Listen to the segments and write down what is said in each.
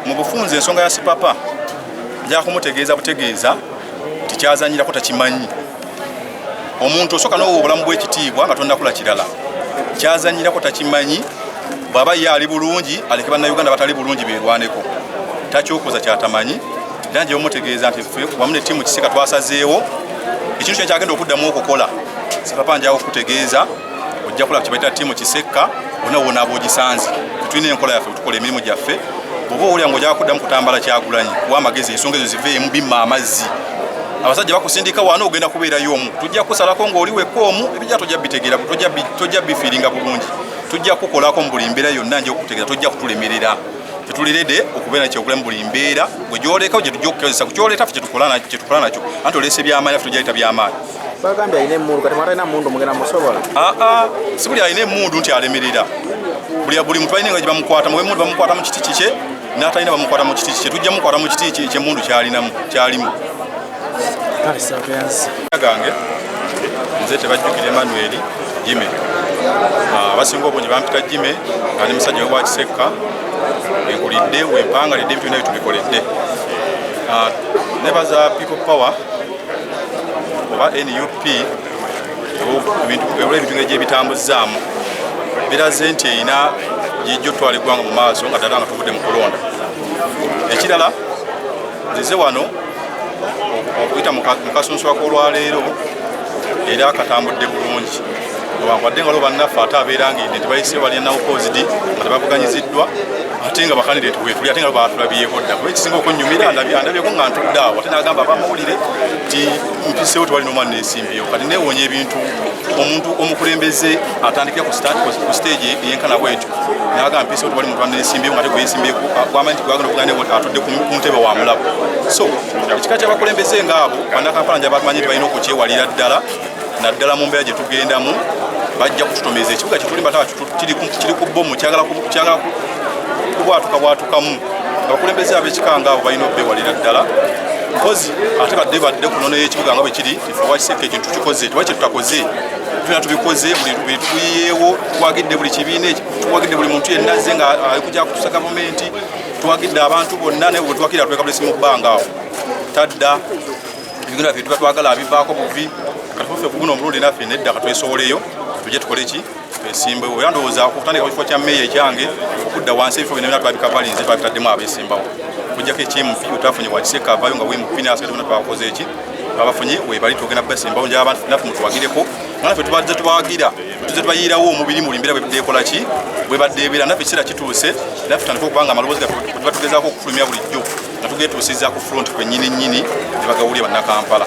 mu bufunzi ensonga ya sipapa njakumutegeeza butegeeza tikyazanyirako takimanyi omuntu osooka nowa obulamu bwekitiibwa nga tonakula kirala kyazanyirako takimanyi bwaba ye ali bulungi aleke bannauganda batali bulungi berwaneko takyokoza kyatamanyi era njebamutegeeza nti fe wamu ne tiimu kiseka twasazeewo ekintu kyekyagenda okuddamu okukola sipapa njawo okutegeeza ojja kulaba kyebayita tiimu kisekka ona wona abogisanze tetulina enkola yaffe tukola emirimu gyaffe oba owulira nga ojaa kuddamu kutambala kyagulanyi kuba amagezi ensonga ezo ziveemu bimma amazzi abasajja bakusindika waana ogenda kubeerayo omu tujja kusalako ngaoli wekka omu ebijja tojja bitegeera tojja bifiiringa bulungi tujja kukolako mu buli mbeera yonna nja okutegeera tojja kutulemerera tetulirede okubeera kyekulamu buli mbeera gwe gyolekawo gyetujja okukozesa kukyoleeta fe kyetukola nakyo anti oleese byamaanyi fe tujaleta byamaanyi bagambye alina emundu kati mwatalina mundu mugenda musobola ah, ah, si buli alina emundu nti alemerera buli muntu alina nga gyebamukwata muwe mundu bamukwata mu kiti kikye natalina bamukwata mu kiti kikye tujja mukwata mu kiti kye mundu kyalinamu kyalimu gange nze tebajjukira emanueli jime ah, abasinga obungi bampita jime nga ne musajja wewakisekka wenkulidde wempangalidde ebintu byona byetubikoledde nebaza people power oba nup ebula ebintu nga gyebitambuzaamu biraze nti erina gyijja otwala eggwanga mu maaso nga ddala nga tuvudde mu kulonda ekirala nzize wano okuyita mu kasunsuwa k'olwaleero era katambudde bulungi newankubadde nga lwo bannaffe ate abeera nga ende tebayise balina nawukozidi nga tebavuganyiziddwa ate nga bakandidate wetuli ate nga batulabyeko dda kuba ekisinga okunyumira andabyeko nga ntudde awo ate nagamba abamawulire ti mpisewo tewali nomwana nensimbiyo kati newonya ebintu omuntu omukulembeze atandikira ku stage eyenkana bwetyo naga mpisewo tewali muntu anensimbiyo nga teguyensimbiyeku gwamanyi nti gwagenda okugana atudde ku ntebe wa mulabo so ekika kyabakulembeze ngaabo banakampala njabamanyi nti balina okukyewalira ddala naddala mu mbeera gye tugendamu bajja kututomeza ekibuga kyetulimbataba kiri ku bbomu kyagala kubwatuka bwatukamu abakulembeze ab'ekika nga abo balina obbewalira ddala mpozi ate badde badde ku nono y'ekibuga nga bwe kiri efuwakiseka ekintu tukikoze tuba kye tutakoze tuna tubikoze buli tuyiyeewo twagidde buli kibiina twagidde buli muntu yenna ze nga alikuja kutusa gavumenti twagidde abantu bonna naye bwetwakira twekabulesi mu bbanga awo tadda ebigendo byaffe tuba twagala abivaako buvi katuffe kuguno omulundi naffe nedda katwesowoleyo tuje tukole ki twesimbewo era ndowooza okutandika kifo kya meeya ekyange okudda wansi ebifo bino byona twabikavalinze twabitaddemu abesimbawo okujjako ekyemupi wetwafunye wakiseka avayo nga wemupi nasigazibona twakoze eki abafunye webali tugenda basimbawo nja abantu naffe mutuwagireko mwana fe tubadde tubawagira tuze tubayiirawo omubiri muli mbeera bwebadde ekola ki bwebadde ebeera naffe ekiseera kituuse naffe tutandika okubanga amaloboozi gaffe tuba tugezaako okufulumya bulijjo nga tugetuusiza ku front kwenyini nyini ne bagawulira bannakampala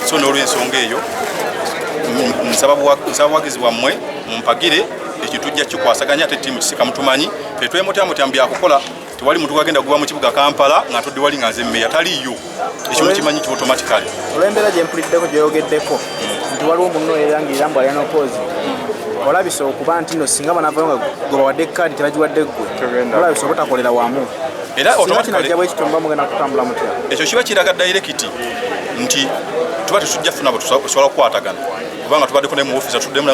so n'olwensonga eyo nsaba buwagizi bwammwe mumpagire ekyo tujja kikwasaganya ate tiimu kisika mutumanyi tetwemutyamutyam byakukola tewali muntu wagenda kuba mu kibuga kampala nga ntudde wali nga nze mmeya taliiyo ekimu kimanyi ki automatically olwembeera gye mpuliddeko gyeyogeddeko nti waliwo munno erangiira mbu alina opoozi olabisa okuba nti no singa banavayo nga gwe bawadde kaadi tebagiwadde ggwe olabisa obutakolera wamu era ekyo kiba kiraga dayirekiti nti tuba tetujja funa bwetusobola kukwatagana kubanga tubaddeko naye mu ofisi atuddemu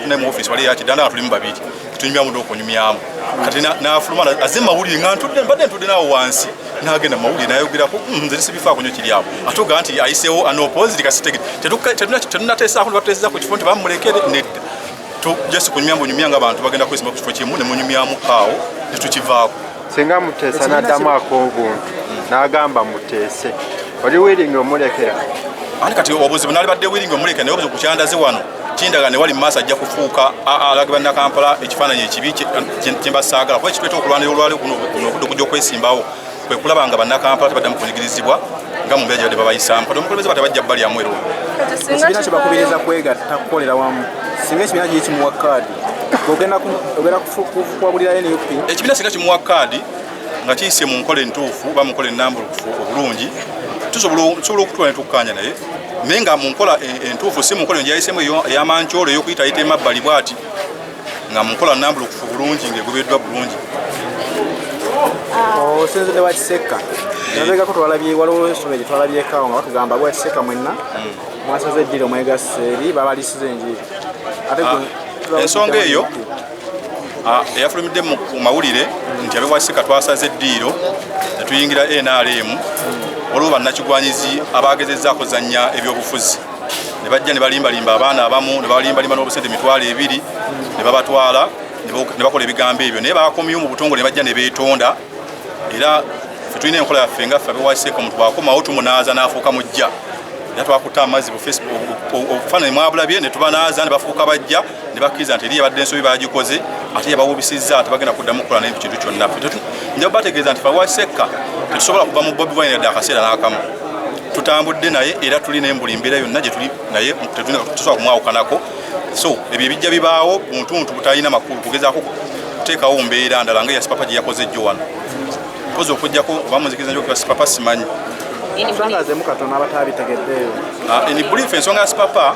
naye mu ofisi wali yakidanda nga tulimu babiri tunyumyamu dde okunyumyamu kati nafuluma aze mawulire nga ntudde mbadde ntudde naawo wansi nagenda mawulire nayogerako hmm, nze nisibifaako nyo kiri awo atuga nti ayiseewo anopoziti kasitege tetunateesaako nebatuteseza ku kifo nti bamulekere nedda to just kunyumya mbu nyumya nga abantu bagenda kwesima ku kifo kimu ne munyumyamu awo ne tukivaako singa muteesa n'addamu ak'obuntu n'agamba muteese oli wiringi omulekera ani kati obuzibu nali badde wiringi omulekera naye obuzibu kukyandaze wano kindaga ne wali mu maaso ajja kufuuka alage bannakampala ekifaananyi ekibi kyembasaagala kuba ekitweta okulwanira olwali kuno obudde okujja okwesimbawo kwe kulaba nga bannakampala tebaddamu kunyigirizibwa nga mu mbeera gye badde babayisaamu kati omukulembeze bate bajja bali amu erwo ekibiina kye bakubiriza kwegatta kukolera wamu singa ekibiina kye kimuwa kaadi ogenda kuwabulirayo ne up ekibiina singa kimuwa kaadi nga kiyise mu nkola entuufu oba mu nkola enambulukufu obulungi tusobola okutula ne tukkaanya naye naye nga mu nkola e, entuufu si mu nkola engyayisemu eyamancoolo eyokuyitayita emabbali bwati nga munkola nambulukufu bulungi ngaegobeddwa bulungi oh, osinzidde wakisekka nabegako twalabye waliwo esome gyetwalabyekaawo nga batugamba bwakisekka mwenna hmm. mwasaze eddiri omwegasse eri babalisiza enjiri ate ah, ensonga eyo ah, eyafulumidde mu mawulire nti abewakisekka twasaze eddiiro netuyingira nrm hmm. waliwo bannakigwanyizi abagezezzaako zannya ebyobufuzi ne bajja ne balimbalimba abaana abamu ne balimbalimba n'obusente emitwalo ebiri ne babatwala ne bakola ebigambo ebyo naye bakomyewo mu butongole ne bajja ne beetonda era fe tulina enkola yaffe nga ffe abewaseeka omuntu bwakomawo tumunaaza n'afuuka mujja era twakutte amazzi obufaananyi mwabulabye ne tubanaaza ne bafuuka bajja ne bakkiriza nti eri yabadde ensobi bagikoze ate yabawubisizza tebagenda kuddamu kukola naye ku kintu kyonna nja bategeeza nti fawasekka tetusobola kuva mu bobi wine yadde akaseera n'akamu tutambudde naye era tuli naye mbuli mbeera yonna gyetuli naye tetusobola kumwawukanako so ebyo ebijja bibaawo buntuntu butalina makulu kugezaako kuteekawo mbeera ndala nga yasipapa gye yakoze jjo wano kozi okujjako oba muzikiriza nyo okuba sipapa simanyi ensonga zemu katono abataabitegeddeeyo ah, eni buliifu ensonga ya sipapa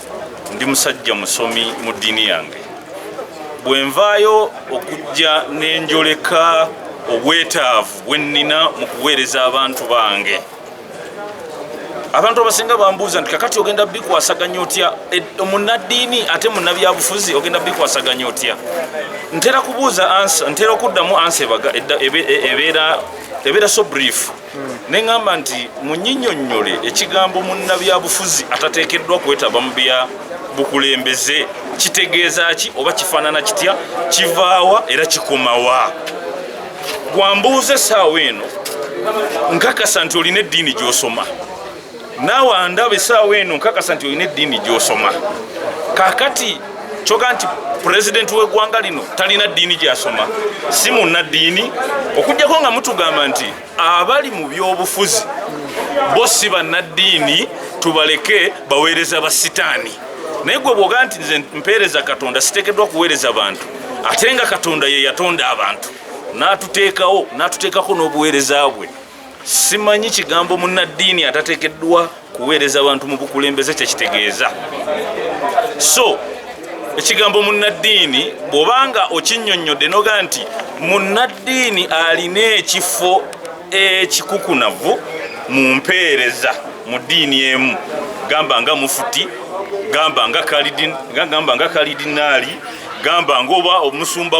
ndi musajja musomi mu ddiini yange bwe nvaayo okujja n'enjoleka obwetaavu bwe nnina mu kuweereza abantu bange abantu abasinga bambuuza nti kakati ogenda bikwasaganya otya e, munaddiini ate munabyabufuzi ogenda bikwasaganya otya ntera kubuuza ansa ntera okuddamu ansa ebaga e, ebeera so brief ne ŋŋamba nti munyinyonnyole ekigambo munnabyabufuzi atateekeddwa kwetaba mu bya bukulembeze kitegeeza ki oba kifaanana kitya kivaawa era kikomawa gwambuuza essaawa eno nkakasa nti olina eddiini gy'osoma naawe andaba esaawa eno nkakasa nti olina eddiini gyosoma kakati kyoga nti pulezidenti w'eggwanga lino talina ddiini gyasoma si munnaddiini okujjako nga mutugamba nti abali mu byobufuzi bo si bannaddiini tubaleke baweereza ba sitaani naye gwe bwoga nti nze mpeereza katonda siteekeddwa kuweereza bantu ate nga katonda ye yatonda abantu n'atuteekawo n'atuteekako n'obuweereza bwe simanyi kigambo munnaddiini atateekeddwa kuweereza bantu mu bukulembeze kyekitegeeza so ekigambo munnaddiini bw'obanga okinyonnyodde noga nti munnaddiini alina ekifo ekikukunavu mu mpeereza mu ddiini emu gamba nga mufuti gamba nga kalidinaali gamba ngaoba omusumba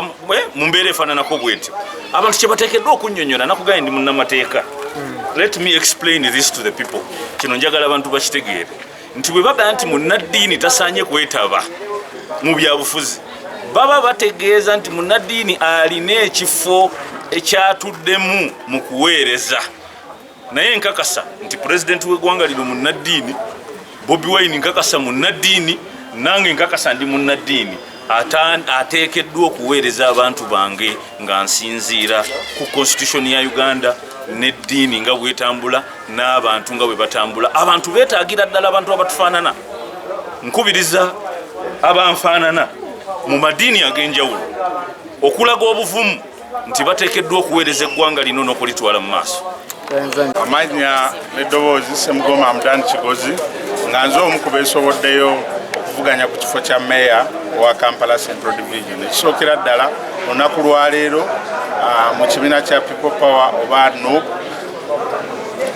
mu mbeera efaananako bwentyo abantu kyebateekeddwa okunyonyola nakugaye ndi munnamateeka let me explain this to the people kino njagala abantu bakitegeere nti bwe bagala nti munnaddiini tasaanye kwetaba mu byabufuzi baba bategeeza nti munnaddiini alina ekifo ekyatuddemu mu kuweereza naye nkakasa nti pulezidenti w'eggwanga lino munnaddiini bobi wine nkakasa munnaddiini nange nkakasa ndi munnaddiini ateekeddwa okuweereza abantu bange nga nsinziira ku konstitutioni ya uganda n'eddiini nga bwetambula n'abantu nga bwe batambula abantu beetaagira ddala abantu abatufaanana nkubiriza abanfaanana mu madiini ag'enjawulo okulaga obuvumu nti bateekeddwa okuweereza eggwanga lino n'okulitwala mu maaso amannya n'eddoboozi semugoma amudani kigozi nga nze omu ku beesoboddeyo okuvuganya ku kifo kya meeya owa kampala central division ekisookera ddala olunaku lwaleero ah, mu kibiina kya people power oba nup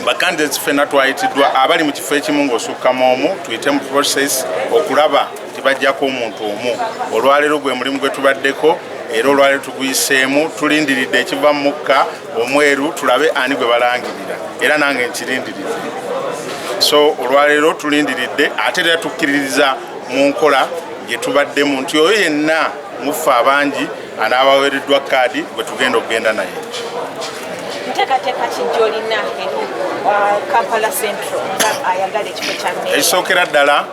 bakandidates ffena twayitiddwa abali mu kifo ekimu ng'osukka mu omu tuyite mu process okulaba tebajjako omuntu omu olwaleero gwe mulimu gwe tubaddeko era olwaleero tuguyiseemu tulindiridde ekiva mu mukka omweru tulabe ani gwe balangirira era nange nkirindirire so olwaleero tulindiridde ate era tukkiririza mu nkola gye tubaddemu nti oyo yenna muffe abangi anaabaweereddwa kaadi gwe tugenda okugenda naye ekisookera ddala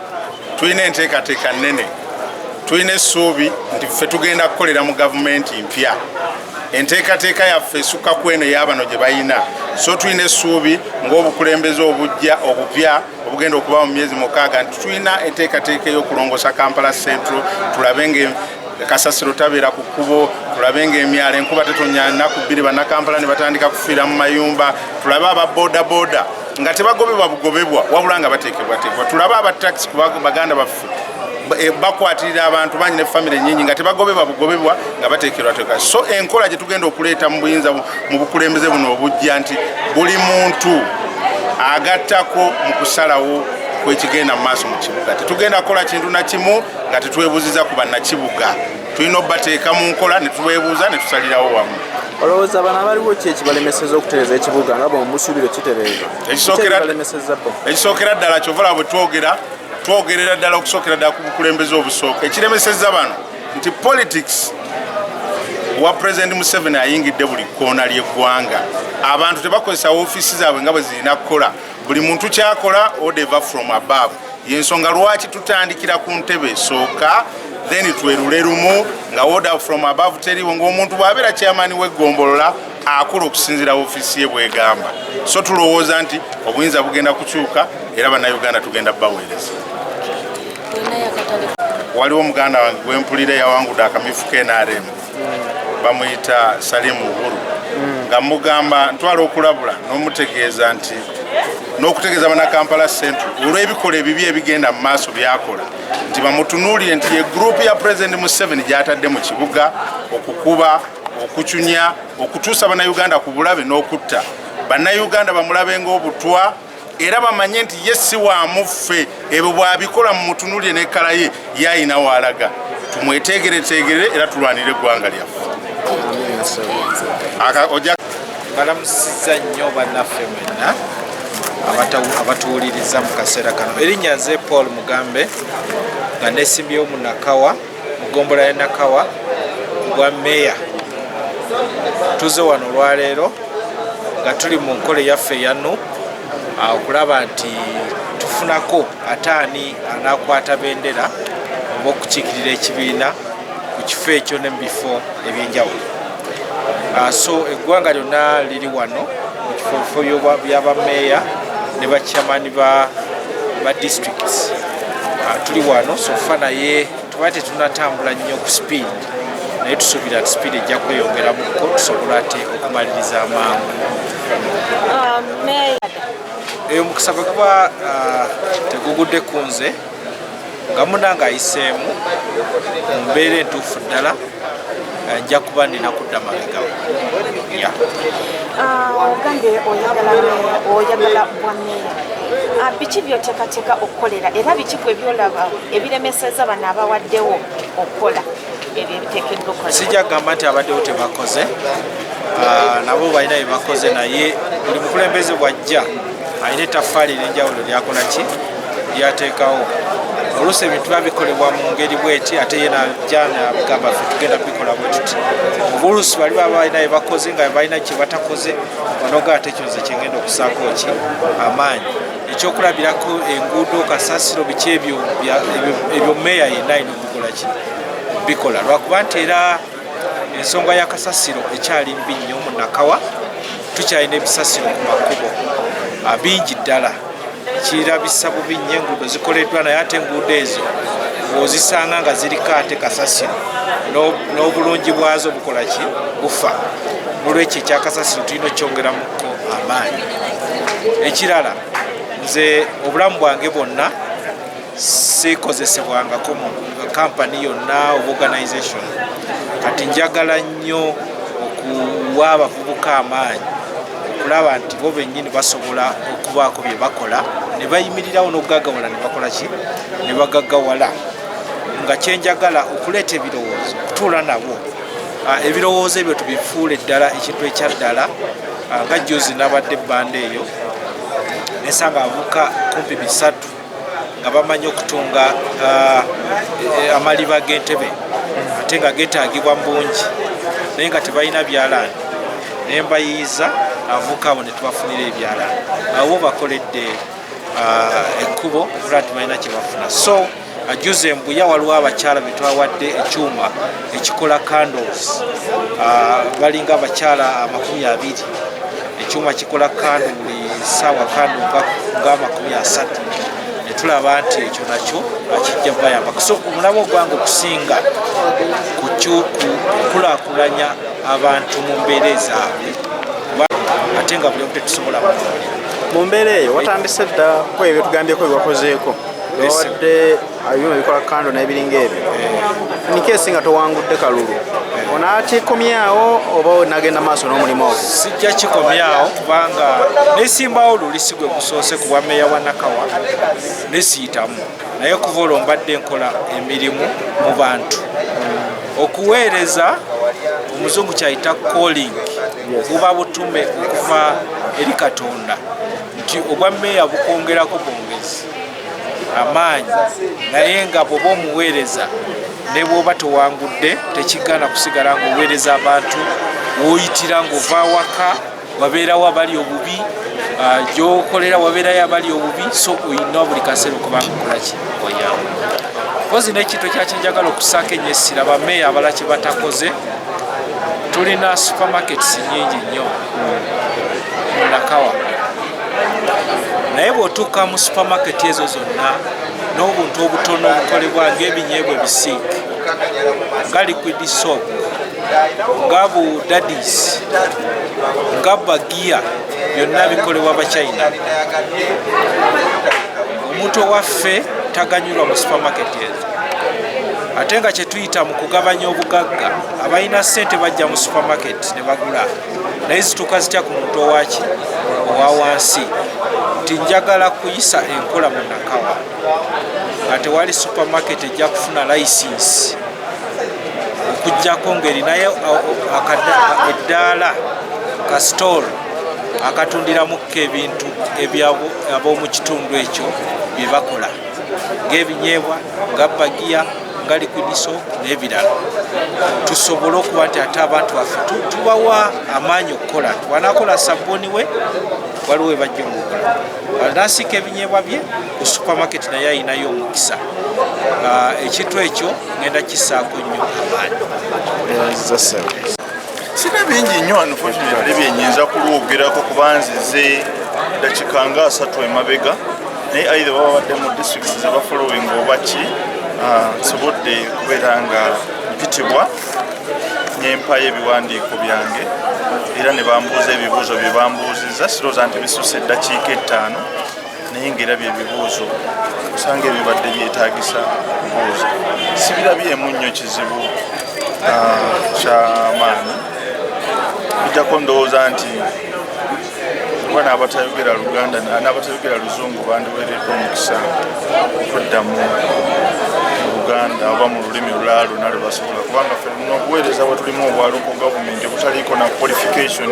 tulina enteekateeka nnene tulina essuubi nti ffe tugenda kukolera mu gavumenti mpya enteekateeka yaffe esukka ku eno eyabano gye balina so tulina essuubi ng'obukulembeze obujja obupya obugenda okuba mu myezi mukaaga nti tulina enteekateeka ey'okulongosa kampala central tulabe nga kasasiro tabeera ku kkubo tulabe ngaemyalo enkuba tetonya nnaku bbiri bannakampala ne batandika kufiira mu mayumba tulabe aba bodaboda nga tebagobebwa bugobebwa wabula nga bateekebwateekebwa tulabe aba taxi ku baganda baffe eh, bakwatirira abantu bangi ne famiry nyingi nga tebagobebwa bugobebwa nga bateekerwateeka so enkola gye tugenda okuleeta mu buyinza mu bukulembeze buno obujja nti buli muntu agattako mu kusalawo kwekigenda mu maaso mu kibuga tetugenda kukola kintu nakimu nga tetwebuziza ku bannakibuga tulina obubateeka mu nkola ne tubeebuuza ne tusalirawo wamu olowooza bano abaliwo ki ekibalemeseza okutereza ekibuga nga bwemusuubire kitereeza ekisookera ddala kyovala bwe twogera twogerera ddala okusookera ddala ku bukulembeze obusooka ekiremeseza bano nti politics wa president museveni ayingidde buli kkoona ly'eggwanga abantu tebakozesa ofiisi zaabwe nga bwe zirina kukola buli muntu kyakola odeva from above yensonga lwaki tutandikira ku ntebe esooka then twerule lumu nga order from above teriwo ngaomuntu bwabeera kyamani wegombolola akola okusinzira ofiisi ye bwegamba so tulowooza nti obuyinza bugenda kukyuka era bannayuganda tugenda baweereza waliwo muganda wange gwempulira yawangude akamyufu knrm bamuyita salimu uhuru nga mugamba ntwala okulabula n'omutegeeza nti n'okutegeeza banakampala central olw'ebikola ebibi ebigenda mu maaso byakola nti bamutunuulire nti ye gurupu ya president museven gyatadde mu kibuga okukuba okucunya okutuusa bannayuganda ku bulabe n'okutta bannayuganda bamulabe ng'obutwa era bamanye nti ye si wa muffe ebyo bw'abikola mu mutunulire n'ekkala ye yalina waalaga tumweteegereteegere era tulwanire eggwanga lyaffe balamusiza nnyo bannaffe mwenna abatuwuliriza mu kaseera kano erinnya nze paul mugambe nga nesimbyewo munakawa mu ggombolola ya Nakawa ku bwa meeya. Tuze wano olwaleero nga tuli mu nkola eyaffe eya nup ah, okulaba nti tufunako ate ani anaakwata bendera oba okukiikirira ekibiina ku kifo ekyo ne mu bifo eby'enjawulo. Ah, so eggwanga lyonna liri wano mu kifobifo byabameeya ne bacamani ba district ah, tuli wano sofa naye tuba tetunatambula nnyo ku speed naye tusuubira ti speed ejja kweyongeramuko tusobola ate okumaliriza amangu ah, eyo mukisa bwe kuba tegugudde ku nze nga munange ayiseemu mu mbeera entuufu ddala eh, nja kuba nina kudda mabegawo ah, ogambye oyagala oyagala bwameeya ah, biki byoteekateeka okukolera era biki gwe byolaba ebiremeseza bano abawaddewo okukola ebyo ebiteekeddwa okola sijja kugamba nti abaddewo tebakoze ah, nabo balina byebakoze naye buli mukulembeze bwajja alina ettaffaali ery'enjawulo lyakola ki lyateekawo oluusi ebintu biba bikolebwa mu ngeri bweti ate ye najana gamba ffe tugenda bikola bwetuti obuluusi bali baba balina bebakoze nga balina kyebatakoze onoga ate ekyo nze kyengenda okusaako ki amaanyi ekyokulabirako enguudo kasasiro biki ebyo ebyo meeya yenna alina okukola ki bikola lwakuba nti era ensonga ya kasasiro ekyali mbi nnyo mu nakawa tukyalina ebisasiro ku makubo ah, bingi ddala kirabisa bubi nnyo enguudo zikoleddwa naye ate enguudo ezo ozisanga nga ziriko ate kasasiro n'obulungi bwazo bukola ki bufa nolwekyo ekyakasasiro tulina okyongeramuko amaanyi ekirala nze obulamu bwange bwonna sikozesebwangako mu kampani yonna oba organization kati njagala nnyo okuwa abavubuka amaanyi okulaba nti bo bennyini basobola okubaako bye bakola ne bayimirirawo n'okugagawala ne bakola ki ne bagagawala nga kyenjagala okuleeta ebirowoozo okutuula nabo ah, ebirowoozo ebyo tubifuule ddala ekintu ekya ddala ah, nga jjuzi nabadde ebbanda eyo nesanga abuka kumpi bisatu nga bamanyi okutunga uh, amaliba g'entebe ate nga getaagibwa mu bungi naye nga tebalina byalaani naye mbayiiza avuka abo netubafunira ebyala awo bakoledde uh, ekkubo era tibalina kyebafuna so ajuze uh, mbuya waliwo abakyala betwawadde ekyuma ekikola candles uh, balinga abakyala amakumi abiri ekyuma kikola kandu buli saawa kandu nga amakumi asatu netulaba nti ekyo nakyo akijja bayamba so omulamu ogwange okusinga ku kukulakulanya abantu mu mbeera ezaabwe ate nga buli omu tetusobola kukolera mu mbeera eyo watandise dda kweyo byetugambyeko byewakozeeko owadde abyuma bikola kando nebiringa ebyo eh. nikesi nga towangudde kalulu eh. onakikomyawo oba nagenda maaso n'omulimu ogwo sijja kikomyawo kubanga nesimbawo luli sigwe gusoose ku bwameeya wa nakawa nesiyitamu naye kuva olwo mbadde nkola emirimu mu bantu okuweereza omuzungu kyayita calling buba butume okuva eri katonda nti obwa meeya bukwongerako bwongezi amaanyi naye nga bwoba omuweereza ne bwoba tewangudde tekigana kusigala ngaoweereza abantu woyitira ngaova waka wabeerawo abali obubi ah, gyokolera wabeerayo abali obubi so oyina buli kaseera okubanga okolaki oyawo kozi nekintu ekyakyenjagala okusaako enyo essira bameeya abala kye batakoze tulina supermarkets nyingi nnyo munakawa naye bwotuuka mu supermarket ezo zonna n'obuntu obutono obukolebwa ngaebinyeebwa ebisiike nga liquid soap nga bu dadis nga bagiya byonna bikolebwa bachina omuntu owaffe taganyulwa mu supermarket ezo ate nga kyetuyita mu kugabanya obugagga abalina sente bajja mu supermarket ne bagula naye zituuka zitya ku muntu owaki owa wansi nti njagala kuyisa enkola mu nakawa nga tewali supermarket ejja kufuna license okujjako ngaerinayo eddaala ka store akatundiramuko ebintu ab'omu kitundu ekyo bye bakola ng'ebinyeebwa nga bagiya nga likwidiso n'ebirala tusobole okuba nti ate abantu baffe tubawa amaanyi okukola nti wanakola sabbuuni we waliwo webajja omukola anasiika ebinyeebwa bye ku supermarket naye ayinayo omukisa ah, ekintu ekyo ngenda kisaako nnyo amaanyi sina bingi nnyo unfortunately byenyinza kulwogerako kuba nzize dakika nga asatu emabega naye aidha baba badde mu district zebafollowing oba ki ah, nsobodde kubeera nga mpitibwa nempayo ebiwandiiko byange era ne bambuuza ebibuuzo bye bambuuzizza sirooza nti bisusa eddakiika ettaano naye ngaera byebibuuzo osanga ebibadde byetagisa kubuuza sibirabyemu nnyo kizibu ah, kyamaanyi bijjako ndowooza nti oba n'abatayogera luganda n'abatayogera luzungu bandiweeredde omukisa okuddamu luganda oba mu lulimi olulala lwona lwe basobola kubanga fe nobuweereza bwe tulimu obwaluko gavumenti obutaliiko na qualification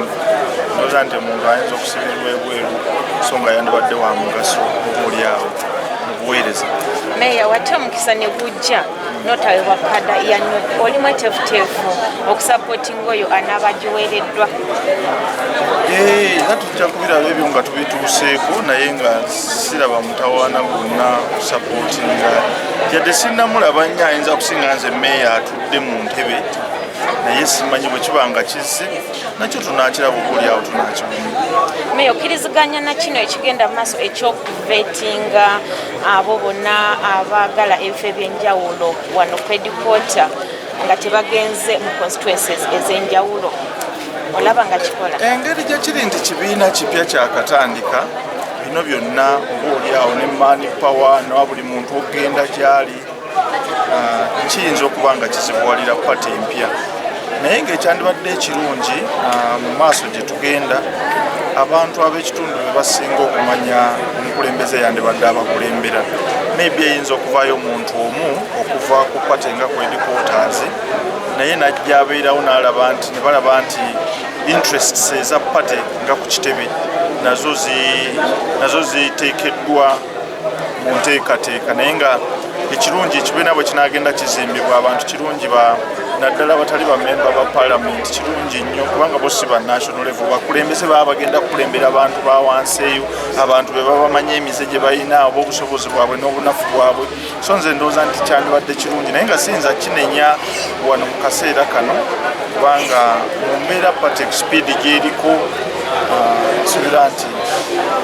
oza nti omuntu ayinza lw'ebweru so nga yandibadde wa mugaso omuliawo mu buweereza meeya wate omukisa ne gujja notawe wa kada ya not oli mwetefuteefu okusapootinga oyo anaaba giweereddwa era tujja kubiraba ebyo nga tubituuseeko naye nga siraba mutawaana gwonna kusapootinga yadde sinnamulaba nnyo ayinza kusinga nze meeya atudde mu ntebe naye simanyi bwe kiba nga kizze nakyo tunakiraba okulyawo tunakimeya okkiriziganya na kino ekigenda maaso ekyokuvetinga abo bonna abaagala ebifo ebyenjawulo wano kwedipota nga tebagenze mu constituences ezenjawulo olaba nga kikola engeri gyekiri nti kibiina kipya kyakatandika bino byonna oba olyawo ne mani power nowa buli muntu okugenda gyali ah, kiyinza okuba nga kizibuwalira pate empya naye ng'ekyandibadde ekirungi ah, mu maaso gye tugenda abantu ab'ekitundu be basinga okumanya omukulembeze yandibadde abakulembera maybe eyinza okuvaayo omuntu omu okuva ku pate nga ku edikotazi naye najja abeerawo n'alaba nti ne balaba nti interests eza pate nga ku kitebe nazo ziteekeddwa mu nteekateeka naye nga ekirungi ekibiina bwe kinaagenda kizimbibwa abantu kirungi naddala abatali bamemba ba palamenti kirungi nnyo kubanga bo si banational level bakulembeze baba bagenda kukulembera abantu ba wansi eyo abantu be baba bamanyi emize gye balina oba obusobozi bwabwe n'obunafu bwabwe so nze ndowooza nti kyandibadde kirungi naye nga siyinza kinenya wano mu kaseera kano kubanga mu mbeera patek speed gyeriko nsuubira nti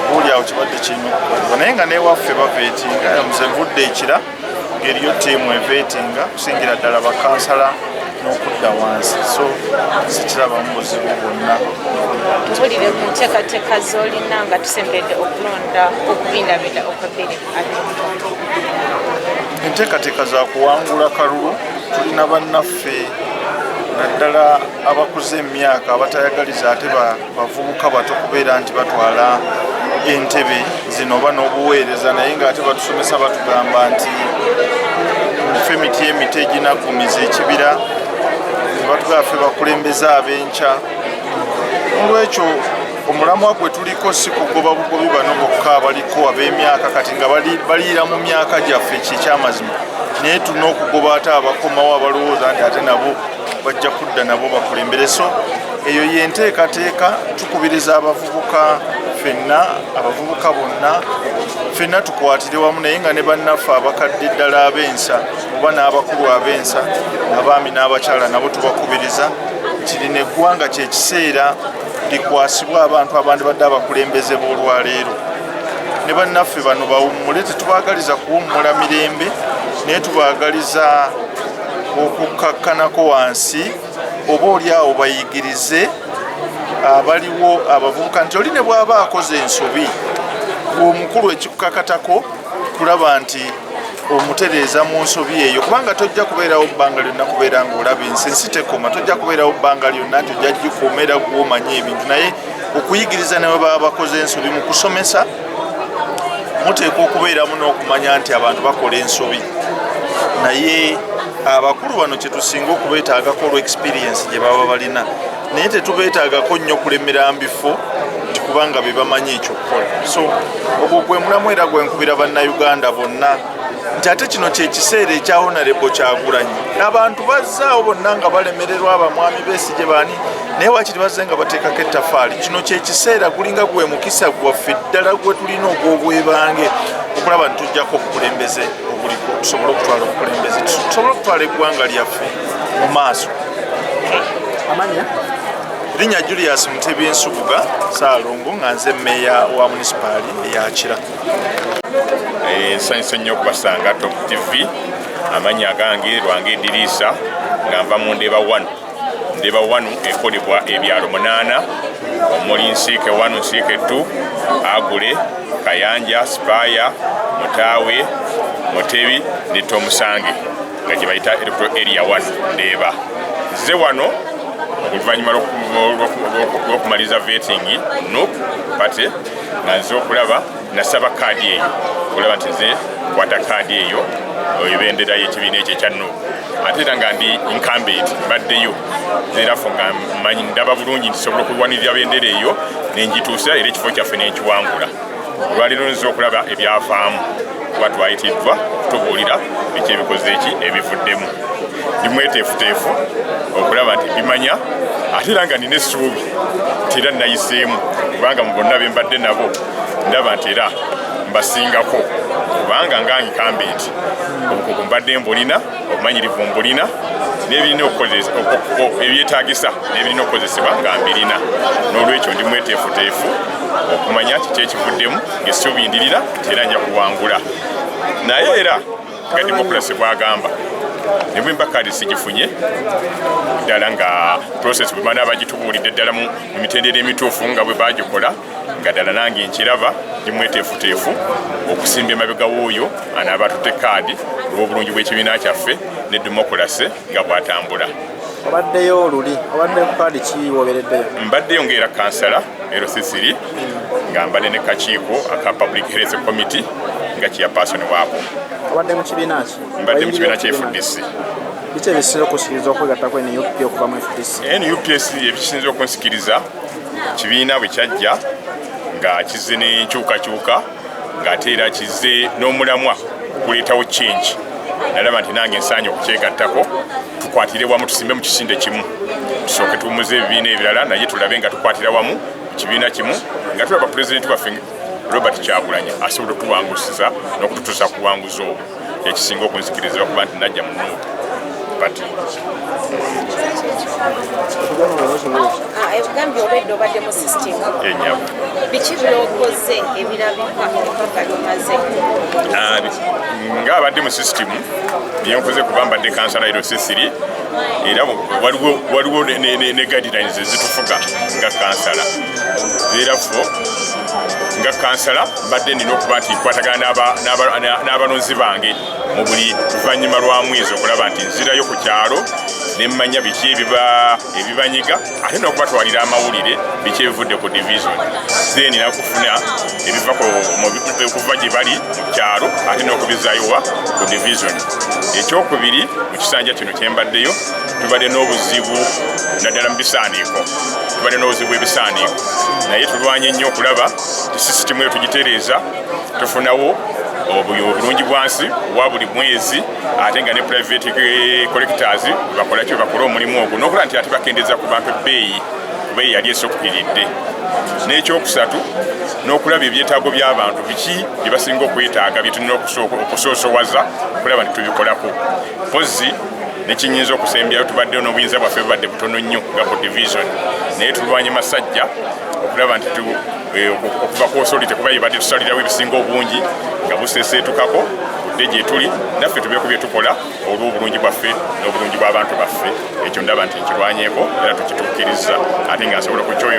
buuli awo kibadde kirina okukolebwa naye nga newaffe baveetinga nze nvudde ekira ngeri yo tiimu eveetinga kusingira ddala bakansala n'okudda wansi so sikirabamu buzibu bwonna tubulire ku nteekateeka z'olina nga tusembedde okulonda okubindabinda okwebiri enteekateeka za kuwangula kalulu tulina bannaffe naddala abakuze emyaka abatayagaliza ate bavubuka bato kubeera nti batwala entebe zino oba n'obuweereza naye ng'ate batusomesa batugamba nti fe emiti emiti eginagumiza ekibira nebatugamba fe bakulembeza ab'enkya olwekyo omulamwa gwe tuliko si kugoba bugobi bano bokka abaliko ab'emyaka kati nga baliira mu myaka gyaffe kyekyamazima naye tulina okugoba ate abakomawo abalowooza nti ate nabo bajja kudda nabo bakulembereso eyo yenteekateeka tukubiriza abavubuka fenna abavubuka bonna fenna tukwatire wamu naye nga ne bannaffe abakadde ddala ab'ensa oba n'abakulu ab'ensa abaami n'abakyala nabo tubakubiriza nti lino eggwanga kyekiseera likwasibwa abantu abandi badde abakulembeze b'olwaleero ne bannaffe bano bawummule tetubagaliza kuwummula mirembe naye tubagaliza okukkakkanako wansi oba oli awo bayigirize abaliwo abavubuka nti oli ne bw'aba akoze ensobi omukulu ekikukakatako kulaba nti omutereeza mu nsobi eyo kubanga tojja kubeerawo bbanga lyonna kubeera ngaolaba ensi ensi tekoma tojja kubeerawo bbanga lyonna nti ojja gikuuma era gwomanyi ebintu naye okuyigiriza newe baba bakoze ensobi mu kusomesa muteekwa okubeeramu n'okumanya nti abantu bakola ensobi naye abakulu bano kyetusinga okubeetaagako olw experiensi gye baba balina naye tetubeetaagako nnyo kulemera mbifo nti kubanga bebamanyi ekyokukola so ogwo gwe mulamu era gwenkubira bannayuganda bonna nti ate kino kyekiseera ekya honarebo kyagulanyi abantu bazzaawo bonna nga balemererwa abamwami besije baani naye wakiri bazze nga bateekako ettafaali kino kyekiseera gulinga gwe mukisa gwaffe ddala gwe tulina ogw'obwebange okulaba nti tujjako obukulembeze obuliko tusobole okutwala obukulembeze tusobole okutwala eggwanga lyaffe mu maaso linnya julius mutebi ensubuga saalongo nga nze meeya wa munisipaali eyakira eh, nsanyusa nnyo okubasanga top tv amanya agange lwange ediriisa nga nva mu ndeeba 1 ndeba wanu ekolebwa ebyalo munaana omuli nsiike wanu nsiike ttu agule kayanja sipaaya mutaawe mutebi ne tomusange nga gye bayita electoral area one ndeeba nze wano oluvannyuma lw'okumaliza vetingi nup pate nga nze okulaba nasaba kaadi eyo okulaba nti nze kwata kaadi eyo ebendera y'ekibiina ekyo ekya nup ate era nga ndi incumbent mbaddeyo erafo nga manyi ndaba bulungi nti sobola okulwanirira bendera eyo nenjituusa era ekifo kyaffe nenkiwangula olwaleero nza okulaba ebyavaamu kuba twayitiddwa okutubuulira ekyebikoze eki ebivuddemu ndi mweteefuteefu okulaba nti bimanya ate era nga nina essuubi nti era nayiseemu kubanga mu bonna bembadde nabo ndaba nti era mbasingako kubanga ngangikambe nti obukugu mbadde mbulina obumanyirivu mbulina n'ebirina ebyetagisa n'ebirina okukozesebwa nga mbirina n'olwekyo ndi mweteefuteefu okumanya kiki ekivuddemu ng'essuubi ndirina era nja kuwangula naye era nga demokulasi bwagamba nebwe mbakadi sigifunye ddala nga process bwemana bagitubuulidde ddala mu mitendera emituufu nga bwe bagikola nga ddala nange nkiraba ndi mweteefuteefu okusimba emabega w'oyo anaaba atutte kaadi olw'obulungi bw'ekibiina kyaffe ne demokulase nga bw'atambula obaddeyo oluli obadde ku kaadi ki wobereddeyo mbaddeyo ngaera kansala erosisiri nga mbadde ne kakiiko aka public health committee nga kiyapasoni waako obadde mu kibiina ki mbadde mu kibiina kya fdc biki ebisinza okusikiriza okwegattako nup okuva mu fdc nup ebisinza okunsikiriza kibiina bwe kyajja nga kizze n'enkyukakyuka ng'ate era kizze n'omulamwa okuleetawo change nalaba nti nange nsaanye okukyegattako tukwatire wamu tusimbe mu kisinde kimu tusooke tuwumuze ebibiina ebirala naye tulabe nga tukwatira wamu mu kibiina kimu nga tulaba pulezidenti waffe robert kyakulanya asobola okutuwangusiza n'okututuusa kuwanguzi obwo ekisinga okunzikiriza okuba nti najja mu nuupu pati enyabo biki byokoze ebirabika kalimaze ah, nga abadde mu sisitimu byenkoze kuba mbadde kansala ero sisiri era waliwo ne guidelines ezitufuga nga kansala era fo nga kansala mbadde nina okuba nti nkwatagana n'abalonzi bange mu buli luvannyuma lwa mwezi okulaba nti nzirayo ku kyalo ne mmanya biki ebibanyiga ate n'okubatwalira amawulire biki ebivudde ku division then nakufuna ebiva okuva gye bali mu kyalo ate n'okubizayowa ku division ekyokubiri mu kisanja kino kyembaddeyo tubadde n'obuzibu naddala mu bisaaniiko tubadde n'obuzibu bw'ebisaaniiko naye tulwanye nnyo okulaba sisitimu eyo tugitereeza tufunawo obulungi bwansi owa buli mwezi ate nga ne private eh, collectors bakolaki bakola omulimu ogwo nokola nti ate bakendeza ku bantu ebbeeyi kubeeyi yali esokukiridde n'ekyokusatu n'okulaba ebyetaago by'abantu biki bye basinga okwetaaga byetulina okusoosowaza okulaba nti tubikolako mpozi nekinyinza okusembyayo tubaddeyo n'obuyinza bwaffe bubadde butono nnyo nga ku division naye tulwanye masajja okulaba nti eh, okuva ku osoli tekuba yebadde tusalirawo ebisinga obungi nga buseseetukako budde gyetuli naffe tube ku byetukola olw'obulungi bwaffe n'obulungi bw'abantu baffe ekyo ndaba nti nkirwanyeeko era tukituukirizza ate nga nsobola okukyonge